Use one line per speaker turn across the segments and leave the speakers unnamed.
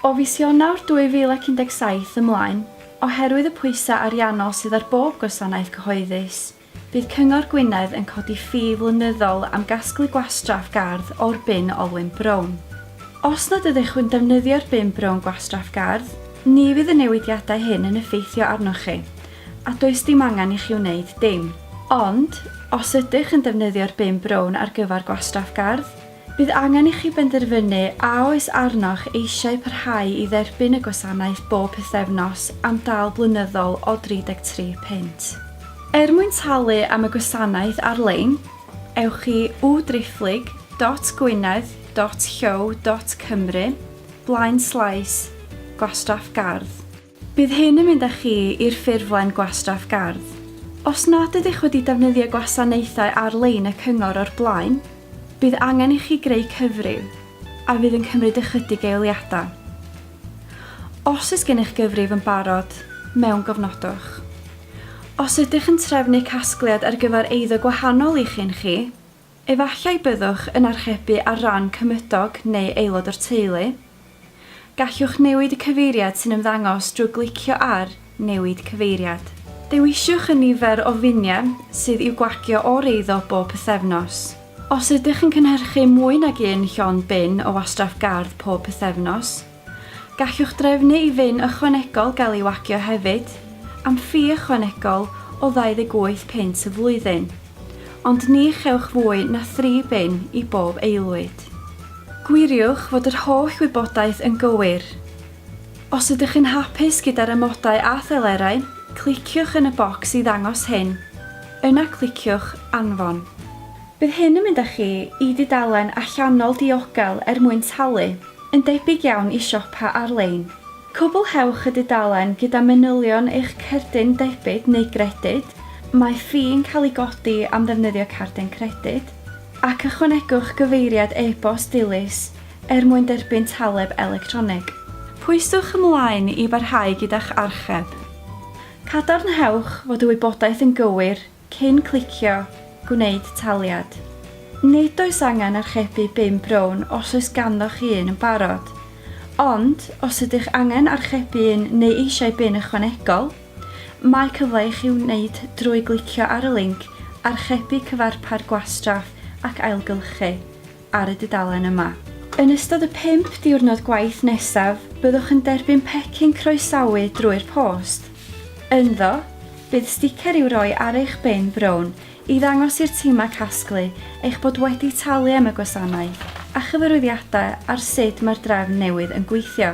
O fis Ionawr 2017 ymlaen, oherwydd y pwysau ariannol sydd ar bob gwasanaeth cyhoeddus, bydd Cyngor Gwynedd yn codi ffi flynyddol am gasglu gwastraff gardd o'r bin olwyn brown. Os nad ydych chwi'n defnyddio'r bin brown gwastraff gardd, ni fydd y newidiadau hyn yn effeithio arnoch chi, a does dim angen i chi wneud dim. Ond, os ydych yn defnyddio'r bin brown ar gyfer gwastraff gardd, Bydd angen i chi benderfynu a oes arnoch eisiau parhau i dderbyn y gwasanaeth bob pythefnos am dal blynyddol o 33 punt. Er mwyn talu am y gwasanaeth ar-lein, ewch i www-driphlyg dot gwynedd dot hyow dot cymru, blaenslaes, gwastraff gardd. Bydd hyn yn mynd â chi i'r ffurflen gwastraff gardd. Os nad ydych wedi defnyddio gwasanaethau ar-lein y cyngor o'r blaen, bydd angen i chi greu cyfrif, a fydd yn cymryd ychydig eiliadau. Os oes gennych gyfrif yn barod, mewngofnodwch. Os ydych yn trefnu casgliad ar gyfer eiddo gwahanol i chi yn chi, Efallai byddwch yn archebu ar ran cymydog neu aelod o'r teulu. Gallwch newid y cyfeiriad sy'n ymddangos drwy glicio ar Newid Cyfeiriad. Dewiswch y nifer o finiau sydd i'w gwagio o'r eiddo bob pythefnos. Os ydych yn cynhyrchu mwy nag un llond bin o wastraff gardd pob pythefnos, Gallwch drefnu i fin ychwanegol gael ei wagio hefyd, am ffi ychwanegol o ddau-ddeg wyth punt y flwyddyn, ond ni chewch fwy na thri bin i bob aelwyd. Gwiriwch fod yr holl wybodaeth yn gywir. Os ydych yn hapus gyda'r amodau a thelerau, cliciwch yn y bocs i ddangos hyn, yna cliciwch Anfon. Bydd hyn yn mynd â chi i dudalen allanol diogel er mwyn talu. Yn debyg iawn i siopa ar-lein, cwblhewch y dudalen gyda manylion eich cerdyn debyd neu gredyd, mae ffi yn cael ei godi am ddefnyddio cerdyn credyd, ac ychwanegwch gyfeiriad e-bost dilys er mwyn derbyn taleb electronig. Pwyswch ymlaen i barhau gyda'ch archeb. Cadarnhewch fod y wybodaeth yn gywir Cyn clicio Gwneud Taliad. Nid oes angen archebu bum brown os oes ganddoch chi un yn barod. Ond, os ydych angen archebu un neu eisiau bin ychwanegol, mae cyfle i chi wneud drwy glicio ar y linc Archebu Cyfarpar Gwastraff ac Ailgylchu. ar y dudalen yma. Yn ystod y pump diwrnod gwaith nesaf, byddwch yn derbyn pecyn croesawu drwy'r post. Ynddo, bydd sticer i'w roi ar eich bin brown i ddangos i'r timau casglu eich bod wedi talu am y gwasanaeth a chyfarwyddiadau ar sut mae'r drefn newydd yn gweithio.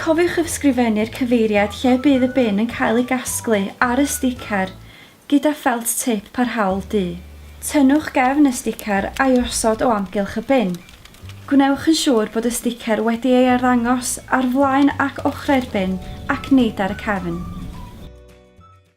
Cofiwch ysgrifennu'r cyfeiriad lle bydd y bin yn cael ei gasglu ar y sticer, Gyda ffelt tip parhaol du, tynnwch gefn y sticer a'i osod o amgylch y bin. Gwnewch yn siŵr bod y sticer wedi ei arddangos ar flaen ac ochrau'r bin ac nid ar y cefn.